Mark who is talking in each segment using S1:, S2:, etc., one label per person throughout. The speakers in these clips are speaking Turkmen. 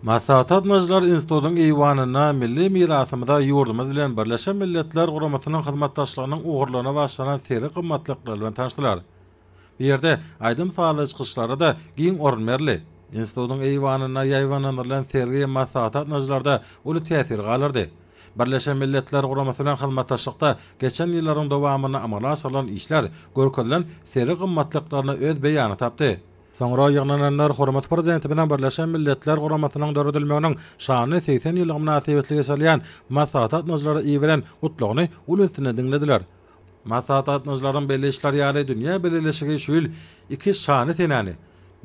S1: Maslahata gatnaşyjylar institutyň eýwanynda milli mirasymyza ýurdumyz bilen Birleşen Milletler Guramasynyň hyzmatdaşlygynyň ugurlaryna bagyşlanan sergi gymmatlyklar bilen tanyşdylar. Bu ýerde aýdym-sazly çykyşlara-da giň orun berildi. Institutyň eýwanynda ýaýbaňlandyrylan sergi maslahata gatnaşyjylarda uly täsir galdyrdy. Birleşen Milletler Guramasy bilen hyzmatdaşlykda geçen ýyllaryň dowamynda amala aşyrylan işler görkezilen sergi gymmatlyklaryna öz beýanyny tapdy. Soňra ýygnananlar hormatly Prezidentimiziň Birleşen Milletler Guramasynyň döredilmeginiň şanly segsen ýyllygy mynasybetli geçirilýän maslahat gatnaşyjylara iberen Gutlagyny uly üns bilen diňlediler. Maslahat gatnaşyjylarynyň belleýşleri ýaly, dünýä bileleşigi şu ýyl iki şanly senäni,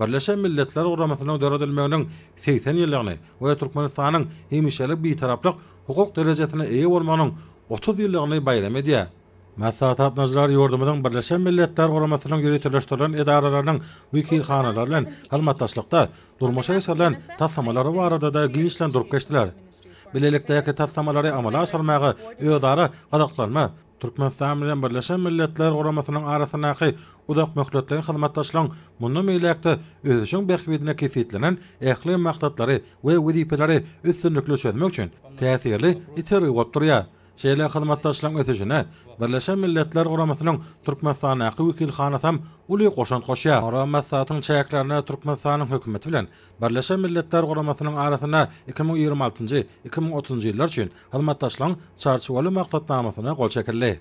S1: Birleşen Milletler Guramasynyň döredilmeginiň segsen ýyllygyny we Türkmenistanyň hemişelik Bitaraplyk hukuk derejesine eýe bolmagynyň otuz ýyllygyny baýram edýär. Maslahat gatnaşyjylary ýurdumyzyň Birleşen Milletler Guramasynyň ýöriteleşdirilen edaralarynyň wekilhanalary bilen hyzmatdaşlykda durmuşa geçirilen taslamalary barada-da giňişleýin durup geçdiler. Bilelikdäki taslamalary amala aşyrmaga özara gyzyklanma Türkmenistan bilen Birleşen Milletler Guramasynyň arasyndaky uzakmöhletleýin hyzmatdaşlygyň mundan beýläk-de ösüşiň bähbidine kesgitlenen ähli maksatlary we wezipeleri üstünlikli çözmek üçin täsirli itergi bolup durýar. Şeýle hyzmatdaşlygyň ösüşine Birleşen Milletler Guramasynyň Türkmenistandaky wekilhanasam uly goşant goşýar. Ora maslahatyň çäklerinde Türkmenistanyň Hökümeti bilen Birleşen Milletler Guramasynyň arasynda iki müň ýigrimi altynjy, iki müň otuzynjy ýyllar üçin hyzmatdaşlygyň Çarçuwaly maksatnamasyna gol çekildi.